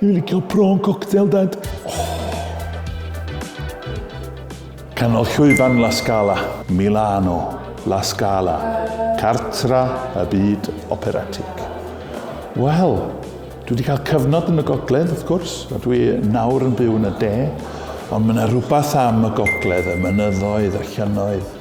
Dwi'n licio prawn cocktail, Dad. Oh. Canol llwyfan La Scala, Milano, La Scala, cartra y byd operatig. Wel, dwi wedi cael cyfnod yn y gogledd, wrth gwrs, a dwi nawr yn byw yn y de, ond mae yna rhywbeth am y gogledd, y mynyddoedd, y llynnoedd,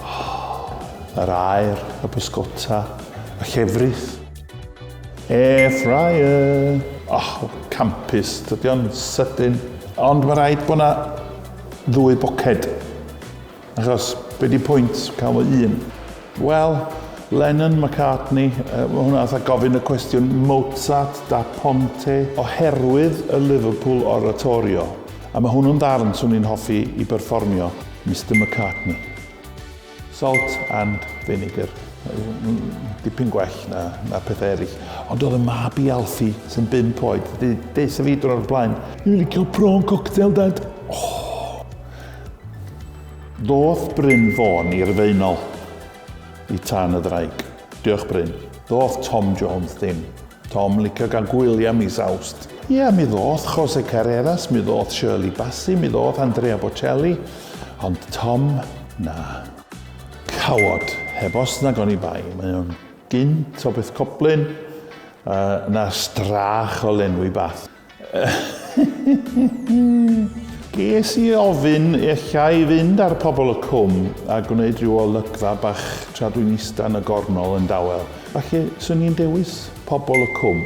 oh, yr aer, y bysgota, y llefrith. Air fryer! Och, campus, dydy o'n sydyn. Ond mae rhaid bod yna ddwy boced. Achos, be di pwynt cael fo un? Wel, Lennon, McCartney, uh, mae hwnna fatha gofyn y cwestiwn Mozart da Ponte oherwydd y Liverpool Oratorio. A mae hwnnw'n ddarn swn i'n hoffi i berfformio, Mr McCartney. Salt and vinegar. Dipyn gwell na, na pethau eraill. Ond oedd y mab i Alfie, sy'n bimp oed, di deis y fi drwy'r blaen. Dwi'n licio prawn cocktail, dad. Oh. Doth Bryn Fôn i'r Faenol i tan y ddraig. Diolch Bryn. Ddoth Tom Jones ddim. Tom licio gan gwylia mis Awst. Ia mi ddoth Jose Carreras, mi ddoth Shirley Bassey, mi ddoth Andrea Bocelli, ond Tom na. Cawod, heb os nag oni bai, mae o'n gynt o beth coblyn, yy na strach o lenwi Bath. Ges i ofyn ella i fynd ar Pobol y Cwm a gwneud rhyw olygfa bach tra dwi'n ista yn y gornol yn dawel, falle 'swn i'n dewis Pobol y Cwm.